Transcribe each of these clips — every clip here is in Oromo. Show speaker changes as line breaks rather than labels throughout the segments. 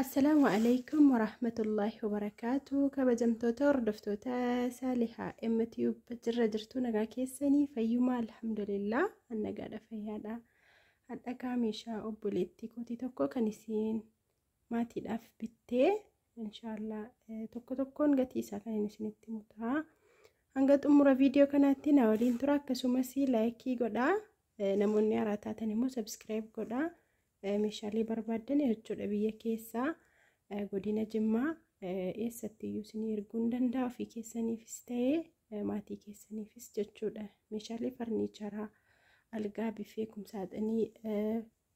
Assalaamu alaikum warahmatullaahi wabarakaatu kabajamtoota hordoftoota saalihaa MTube jirra jirtuu nagaa keessanii fayyumaa alhamdulillah annagaadha fayyaadha hadha kaameeshaa obboleettii kootii tokko kan isiin maatiidhaaf bittee inshaallah tokko tokkoon gatii isaa kan hin isinitti mutaa hanga xumura viidiyoo kanaatti na waliin tura akkasumas laayikii godhaa namoonni haaraa taatan immoo sabskiraayib godhaa meeshaalee barbaaddan jechuudha biyya keessaa godina jimmaa eessatti iyyuu isin erguu ni danda'a ofii keessaniifis ta'ee maatii keessaniifis jechuudha meeshaalee farniicharaa algaa biffee kumsaaxinii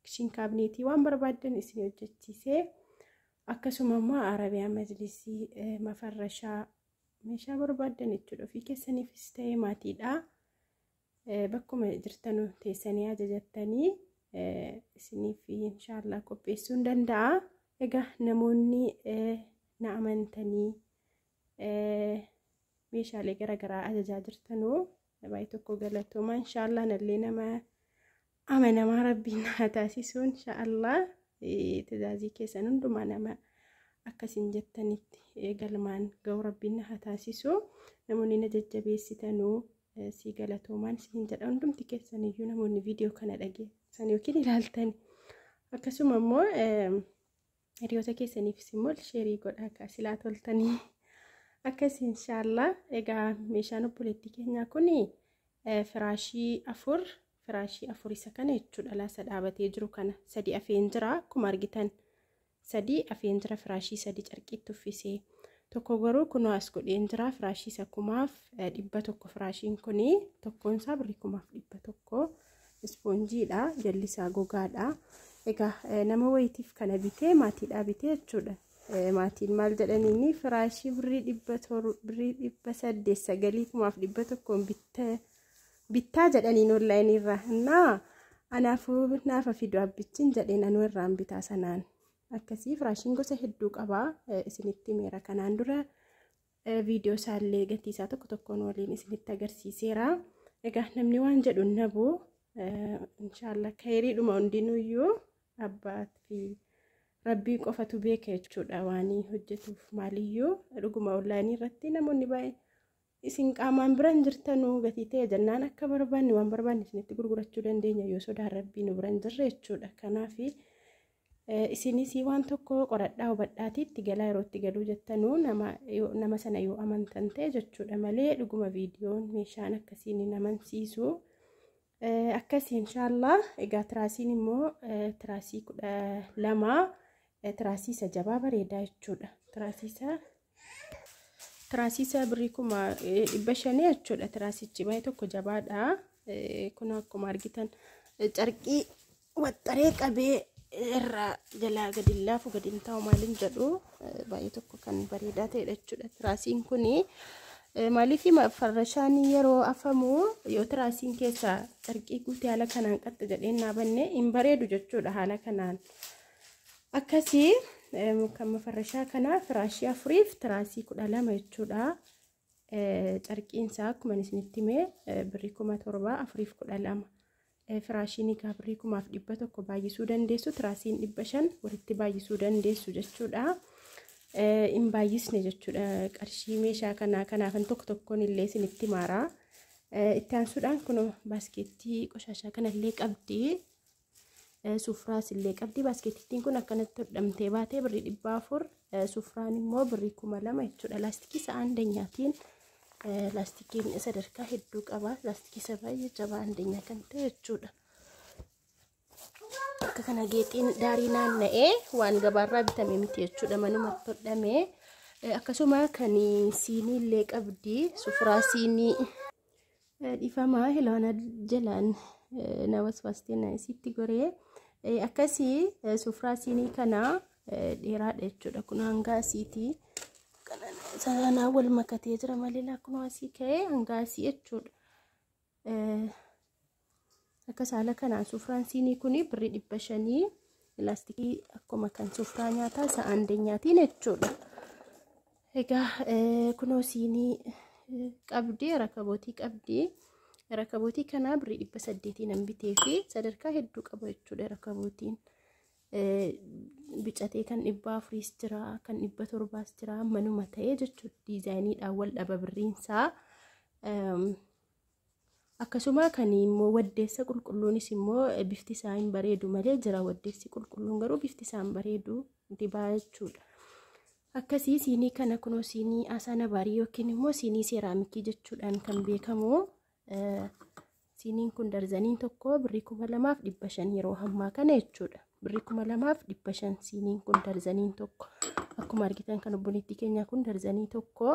kishin kaabineetii waan barbaaddan isin hojjechiisee akkasuma immoo arabiyaa majlisii mafarrashaa meeshaa barbaaddan jechuudha ofii keessaniifis ta'ee maatiidha bakkuma jirtanu teessanii ajajattanii isiniif inshaallah qopheessuun danda'a. Egaa namoonni na amantanii meeshaalee garaagaraa ajajaa jirtanu baay'ee tokko galatooma inshaallah nallee nama amanamaa rabbiin haa taasisuu inshaallah tajaajii keessan hundumaa nama akkasiin jettanitti galmaan ga'u rabbiin haa taasisuu namoonni na jajjabeessitanuu sii galatoomaan siin jedha hundumti keessan iyyuu namoonni viidiyoo kana dhageessan yookiin ilaaltan akkasuma immoo Hiriyoota keessaniifis immoo sheerii godhaa kaa silaa toltanii. Akkasii inshaallah egaa meeshaan obboleettii keenyaa kun firaashii afur firaashii afur isa kana jechuudha laasa dhaabatee jiru kana sadi afeen jira akkuma argitan sadi afeen jira firaashii sadi carqiitti uffisee tokko garuu kunoo as godheen jira firaashii isa kumaaf dhibba tokko firaashiin kun tokkoon isaa birrii kumaaf dhibba tokko ispoonjiidha jallisaa gogaadha egaa nama wayitiif kana bitee maatiidhaa bitee jechuudha maatiin maal jedhaniini firaashii birrii dhibba toru birrii dhibba saddeet sagalii kumaaf dhibba tokkoon bitta bittaa jedhaniin onlaayinii irraa innaa anaafuu naafa fidu abbichin jedheen anuu irraan bitaa sanaan akkasii firaashiin gosa hedduu qabaa isinitti meera kanaan dura viidiyoo isaallee gatii isaa tokko tokkoon waliin isinitti agarsiiseera. Egaa namni waan jedhu nabu inshaallah kayriidhuma hundinuyyuu abbaat fi rabbii qofatu beeka jechuudha waan hojjetuuf maaliyyuu dhuguma onlaayinii irratti namoonni baay'ee isin qaamaan biran jirtanu gatii ta'e jennaan akka barbaanne waan barbaanne isinitti gurgurachuu dandeenya yoo sodaan rabbii nu biran jirre jechuudha kanaafi Isinis waan tokko qoradhaa hubadhaatii itti galaa yeroo itti galuu jettanuu nama yoo- nama sana yoo amantan ta'e jechuudha malee dhuguma viidiyoon meeshaan akkasiin hin amansiisu. Eh, Akkasii inshaallah egaa tiraasiin immoo eh, tiraasii kudha lama eh, tiraasii isa jabaa bareedaa jechuudha. Tiraasii isa Tiraasiisaa birrii kuma dhibba shanii jechuudha. Tiraasichi baay'ee tokko jabaadha. Kun akkuma argitan carqii waxxaree qabee irraa jalaa gadi laafu gadi hin taa'u maaliin jedhu baay'ee tokko kan bareedaa ta'edha jechuudha. Tiraasiin kun maaliif farrashaan yeroo afamu yoo tiraasiin keessaa carqii guutee haala kanaan qaxxa jedhee hin dhaabanne hin bareedu jechuudha haala kanaan. akkasii kan mafarrashaa kanaa firaashii afuriif tiraasii kudha lama jechuudha. Carqiinsaa akkuma isinitti himee birrii kuma torbaa afuriif kudha lama. Firaashiin egaa birrii kumaaf dhibba tokko baay'isuu dandeessu tiraasiin dhibba shan walitti baay'isuu dandeessu jechuudha. Hin baay'isne jechuudha qarshii meeshaa kanaa kanaafan tokko tokkoon illee isinitti maaraa. Itti aansuudhaan kun baaskeettii qoshaashaa kanallee qabdi. Sufraas illee qabdi. Baaskeetittiin kun akkanatti hodhamtee baatee birrii dhibba afur. Sufraan immoo birrii kuma lama jechuudha. Laastikii isa andanyaatiin laastikiin sadarkaa hedduu qaba. Laastikii isa baay'ee jabaa andanyaa kan ta'e jechuudha. Akka kana geexiin daarii naanna'ee waan gabaarraa bitame miti jechuudha. Manumatti hodhamee. Akkasuma kan siinii illee qabdi. Sufraa siinii. Dhifamaa hiloona jalaan na waswaastee na isitti goree akkasii sufraa siinii kana dheeraadha jechuudha kun hanga asiitii sanaa wal makatee jira malee kun asii ka'ee hanga asii jechuudha. Akka saala kanaan sufraan siinii kun birri dhibba shanii laastikii akkuma kan sufraa nyaataa isa andeenyaatiin jechuudha. Egaa kunoo siinii qabdee rakabootii qabdee rakabootii kanaa birri dhibba saddeetii nan bitee fi sadarkaa hedduu qaba jechuudha rakabootiin. Bicatee kan dhibba afuriis jira kan dhibba torbaas jira manuma ta'ee jechuudha diizaayiniidhaan wal dhaba birriinsaa. Akkasumaa kan immoo waddeessa qulqulluunis immoo bifti isaa hin bareedu malee jira waddeessi qulqulluun garuu bifti isaa hin bareedu dibaa jechuudha. Akkasii siinii kana kunoo siinii asaana baarii yookiin immoo siinii seeraamikii jechuudhaan kan beekamu siiniin kun darzaniin tokko birrii kuma lamaaf dhibba shan yeroo hammaa kana jechuudha. Birrii kuma lamaaf dhibba shan siiniin kun darzaniin tokko akkuma argitan kan obboleettii keenyaa kun darzanii tokko.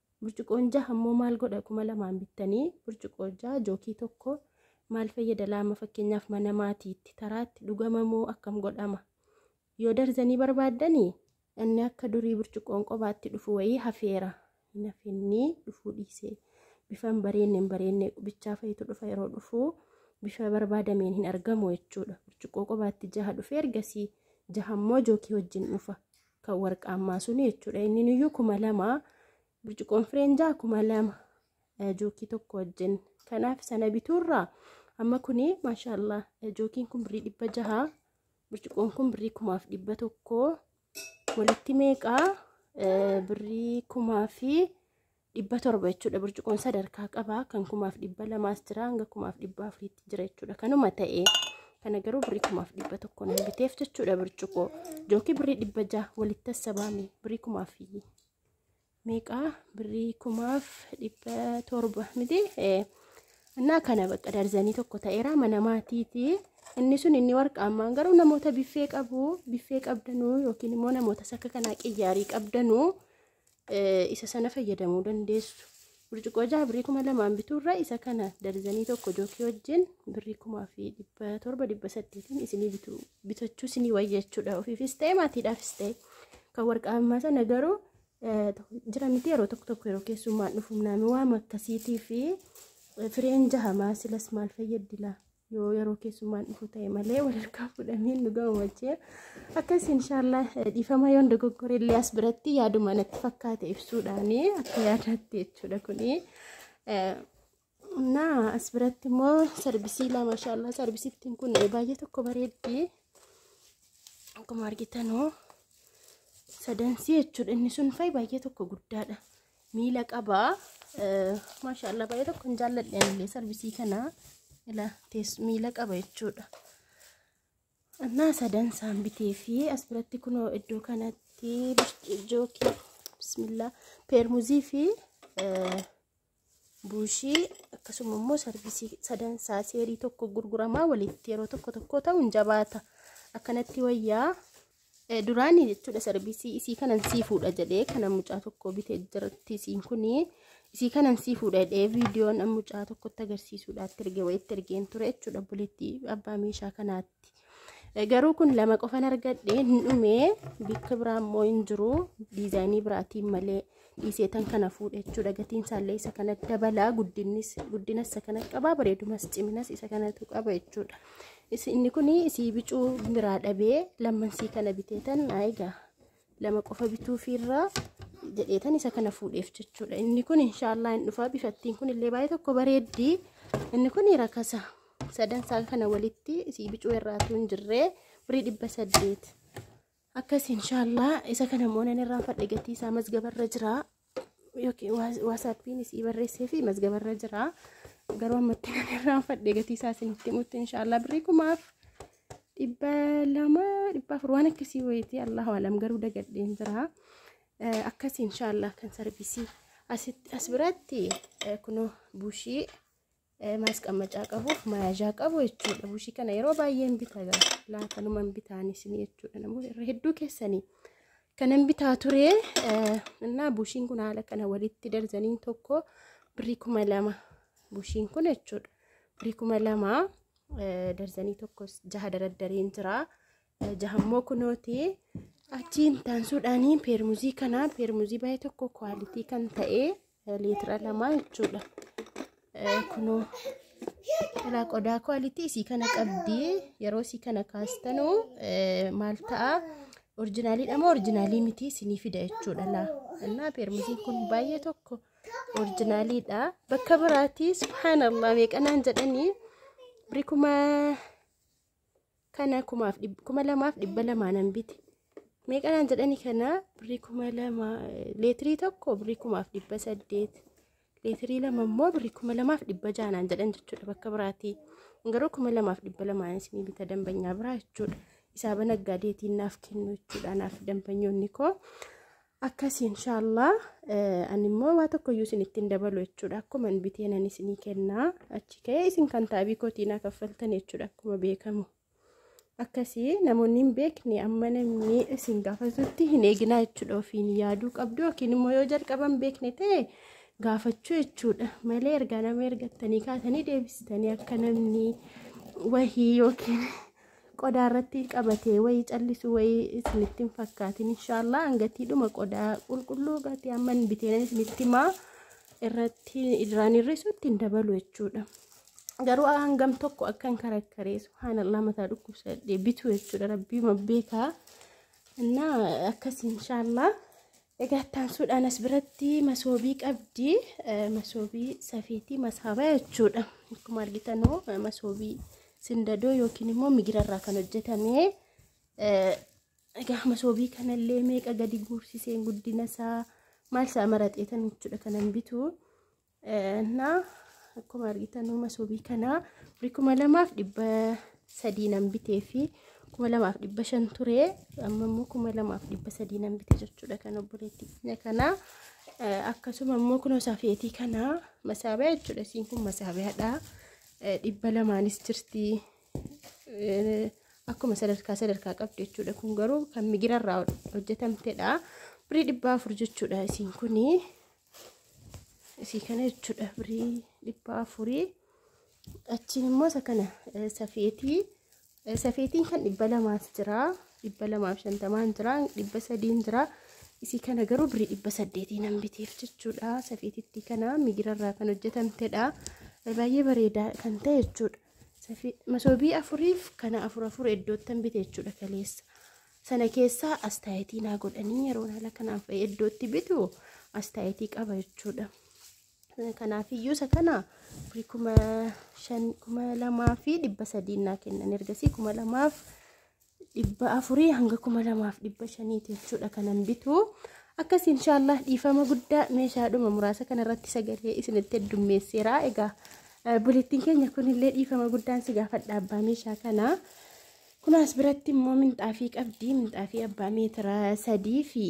Burcuqoon jaha immoo maal godha kuma lamaan bittanii burcuqoo jaha jookii tokko maal fayyada laama fakkeenyaaf mana maatiitti taraatti dhugama moo akkam godhama yoo darzanii barbaaddanii inni akka durii burcuqoon qobaatti dhufu wayii hafeera hin hafinnii dhufuu dhiisee bifan bareenne hin bareenne bichaa fayitu dhufa yeroo dhufu bifa barbaadameen hin argamu jechuudha burcuqoo qobaatti jaha dhufee ergasii jaha immoo jookii wajjin dhufa kan warqaammaa suni jechuudha inni nuyyuu kuma lama birciqoon fireenjaa kuma lama jookii tokko wajjin kanaaf sana bituurraa amma kuni maashaallah jookiin kun birrii dhibba jaha birciqoon kun birrii kumaaf dhibba tokko walitti meeqaa birrii kumaa fi dhibba torba jechuudha burcuqoon sadarkaa qabaa kan kumaaf dhibba lamaas jira hanga kumaaf dhibba afuriitti jira jechuudha kanuma ta'ee kana garuu birrii kumaaf dhibba tokko nan biteef jechuudha burcuqoo jookii birrii dhibba jaha walitti tassabaame birrii kumaaf meeqaa birrii kumaaf dhibba torba miti innaa kana bakka darzanii tokko ta'eera mana maatiiti inni sun inni warqaamaan garuu namoota biffee qabu biffee qabdanuu yookiin immoo namoota sakka kanaa qiyyaarii qabdanuu isa sana fayyadamuu dandeessu. Burcuqqoo jaha birrii kuma lamaan bituurra isa kana darzanii tokko jookii wajjin birrii kumaa fi dhibba torba dhibba saddeetiin isinii bitu bitachuu isinii wayya jechuudha. Ofiifis ta'e maatiidhaafis ta'e kan warqaa ammaa sana garuu jira miti yeroo tokko tokko yeroo keessummaan dhufu naami waan akkasiitii fi fireen jahamaa silas maal fayyaddi laa yoo yeroo keessummaan dhufu ta'e malee walirkaa fuudhamee nu gammachee akkas inshaallah dhiifama yoon dogoggore illee as biratti yaaduma natti fakkaate ibsuudhaani akka yaadaatti jechuudha kuni na as biratti immoo sarbisii lama inshaallah sarbisittiin kun baay'ee tokko bareeddi akkuma argitanoo sadansii jechuudha inni sun fa'i baay'ee tokko guddaadha miila qaba maashaallah baay'ee tokko hin jaalladhe illee sarvisii kana ila tees miila qaba jechuudha annaa sadan saan bitee fi as biratti kunoo iddoo kanatti jookii bismillah peermuzii fi buushii akkasuma immoo sarvisii sadan isaa seerii tokko gurguramaa walitti yeroo tokko tokko ta'u hin jabaata akkanatti wayyaa duraanii jechuudha sarbiisii isii kanan sii fuudha jedhee kana mucaa tokko bitee jirti isiin kun isii kanan sii fuudha jedhee viidiyoon mucaa tokkotti agarsiisuudhaatti erge wayitti ergeen ture jechuudha bulitti abbaa meeshaa kanaatti. Garuu kun lama qofan argadhe hin dhumee bakka biraa immoo hin jiru diizaayinii biraatiin malee. dhiisee tan kana fuudha jechuudha gatiin isaallee isa kana dabalaa guddinnis guddinas isa kana qabaa bareedumas ciminas isa kanatu qaba jechuudha inni kun isii bicuu biraa dhabee lammansii kana bitee tan egaa lama qofa bituufiirraa jedhee tan isa kana fuudheef jechuudha inni kun inshaallah hin dhufaa bifattiin kun illee baay'ee tokko bareeddii inni kun rakasa sadan isaa kana walitti isii bicuu irraatu hin jirree birii dhibba saddeet akkas inshallah isa kana immoo nan irraanfadhe gatii isaa mazgabarra jira yookiin waasaappiin isii barreessee fi mazgabarra jira garuu ammatti nan irraanfadhe gatii isaa isinitti himutti inshallah birrii kumaaf dhibba lama dhibba afur waan akkasii wayitii allahu alam garuu dagadheen jira akkas inshallah kan sarvisii asitti as biratti kunoo buushii maasqammacaa qabuuf mayaajaa qabu jechuudha. Bushii kana yeroo baay'ee hin bitaa gara laatanuma hin bitaan isin jechuudha. Namoota irra hedduu keessanii kanan bitaa ture innaa bushiin kun haala kana walitti darzaniin tokko birrii kuma lama bushiin kun jechuudha. Birrii kuma lama darzanii tokko jaha daraddareen jira. Jahammoo kunooti achiin taansuudhaanii peermuzii kana peermuzii baay'ee tokko kwaalitii kan ta'ee. liitira lamaa jechuudha. Kunoo ilaa qodaa kwaalitii isii kana qabdi yeroo isii kana kaastanu maal ta'a orjinaaliidha moo orjinaalii miti isinii fida jechuudha laa innaa peermusiin kun baay'ee tokko orjinaaliidha bakka biraatii subhaanallah meeqanaan jedhanii birikuma kana kumaaf dhib- kuma lamaaf dhibba lamaa nan bite meeqa naan jedhani kana birrii kuma lama eh, leetirii tokko birrii kumaaf dhibba saddeet leetirii lama immoo birrii kuma lamaaf dhibba jaha naan jedhan jechuudha bakka biraatii garuu kuma lamaaf dhibba lamaan isinii bita dambanyaa biraa jechuudha isaa banaggaa deetiin naaf kennu jechuudha naaf dambanyoonni koo Akkasi inshaallah ani immoo waa tokko iyyuu isinitti hin dabalu jechuudha akkuma hin biteen ani isinii kennaa achi ka'ee isin kan taabii kootii naa kaffaltan jechuudha akkuma beekamu akkasi namoonni hin beekne amma namni isin gaafatutti hin eeginaa jechuudha ofiin yaaduu qabdu yookiin immoo yoo jalqaba hin beekne ta'e gaafachuu jechuudha malee ergaa nama ergattanii kaatanii deebisitanii akka namni wahii yookiin qodaa irratti qabatee wayii callisu wayii isinitti hin fakkaatin inshaallah hangatiidhuma qodaa qulqulluu gatii amman biteen isinitti himaa irratti irraan hir'isutti hin dabalu jechuudha. Garuu hangam tokko akkan karakkaree subhaanallah mataa dhukkubsadhee bitu jechuudha rabbii beekaa. Innaa akkas inshaallah Egaa itti aansuudhaan as biratti masoobii qabdi. Masoobii safiitii masaaba jechuudha. Akkuma argitanuu masoobii sindadoo yookiin immoo migirarraa kan hojjetame. Egaa masoobii kanallee meeqa gadi guursiseen guddina isaa maal isaa maraxeetan jechuudha kanan bitu. እና akkuma argitan uuma subii kanaa biri kuma lamaaf dhibba sadii nan bitee fi kuma lamaaf dhibba shan ture amma immoo kuma lamaaf dhibba sadii nan bite jechuudha kan obboleetti keenya kanaa akkasuma immoo kunoo safeetii kanaa masaabiyaa jechuudha isiin kun masaabiyaadha dhibba lamaanis jirti akkuma sadarkaa sadarkaa qabdi jechuudha kun garuu kan migirarraa hojjetamtedha birii dhibba afur jechuudha isiin kunii isii kana jechuudha birii dhibba afurii achiin immoo isa kana safeetii safeetiin kan dhibba lamaas jira dhibba lamaaf shantamaan jira dhibba sadiin jira isii kana garuu birii dhibba saddeetii nan biteef jechuudha safeetitti kana migirarraa kan hojjetamtedha baay'ee bareedaa kan ta'e jechuudha masoobii afuriif kana afur afur iddoottan bite jechuudha kaleessa sana keessaa astaayitii naa godhanii yeroon haala kanaan fa'ee iddootti bitu astaayitii qaba jechuudha. Kanaaf iyyuu isa kana firii kuma shan kuma lamaa fi dhibba sadiin naa kennan ergasii kuma lamaaf dhibba afurii hanga kuma lamaaf dhibba shaniiti jechuudha kanan bitu. Akkas inshaallah dhiifama guddaa meeshaadhuma muraasa kanarratti sagalee isinitti heddummeesseera. Egaa bulittiin keenya kunillee dhiifama guddaan si gaafadha abbaa meeshaa kanaa. Kun as biratti immoo minxaafii qabdi. Minxaafii abbaa meetira sadii fi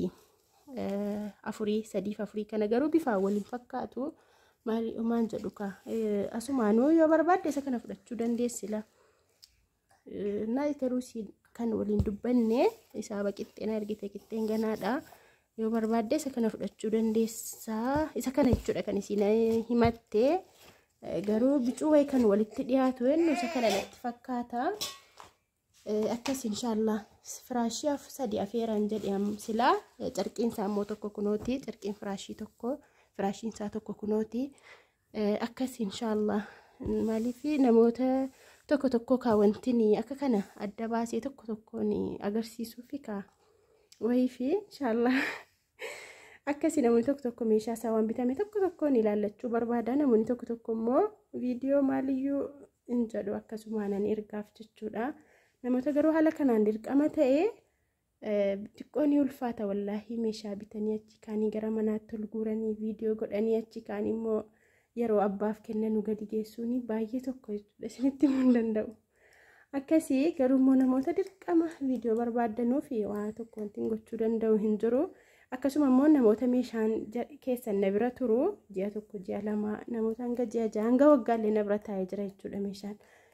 afurii sadiif afurii kana garuu bifaa waliin fakkaatu maal maal jedhu kaa asumaanuu yoo barbaadde isa kana fudhachuu dandeessi la naa garuu si kan waliin dubbanne isaa baqixxeen argite qixxeen ganaadha yoo barbaadde isa kana fudhachuu dandeessaa isa kana jechuudha kan isiin himatte Garuu bicuu wayi kan walitti dhiyaatu eenyu isa kana natti fakkaata. Akkas inshaallah firaashii af sadi afeeraan jedhe silaa carqiin isaa immoo tokko kunooti carqiin firaashii tokko firaashiin isaa tokko kunooti. Akkas inshaallah maaliif namoota tokko tokko kaa wantin akka kana adda baasee tokko tokkoon agarsiisuufi kaa wayiifi inshaallah. Akkasii namoonni tokko tokko meeshaa isaa waan bitame tokko tokkoon ilaallachuu barbaada. Namoonni tokko tokko immoo viidiyoo maaliyyuu hin jedhu akkasumaanan ergaaf jechuudha. Namoota garuu haala kanaan dirqama ta'ee xiqqoo ni ulfaata wallaahi meeshaa bitanii achi kaanii gara manaatti ol guuranii viidiyoo godhanii achi kaanii immoo yeroo abbaaf kennanu gadi geessuun baay'ee tokko jechuudha isinitti himuu hin danda'u. akkasii garuu immoo namoota dirqama viidiyoo barbaaddanuu fi waa tokko wanti gochuu danda'u hin jiru akkasuma immoo namoota meeshaan keessan na bira turu ji'a tokko ji'a lama namoota hanga ji'a ja'a hanga waggaallee na bira taa'ee jira jechuudha meeshaan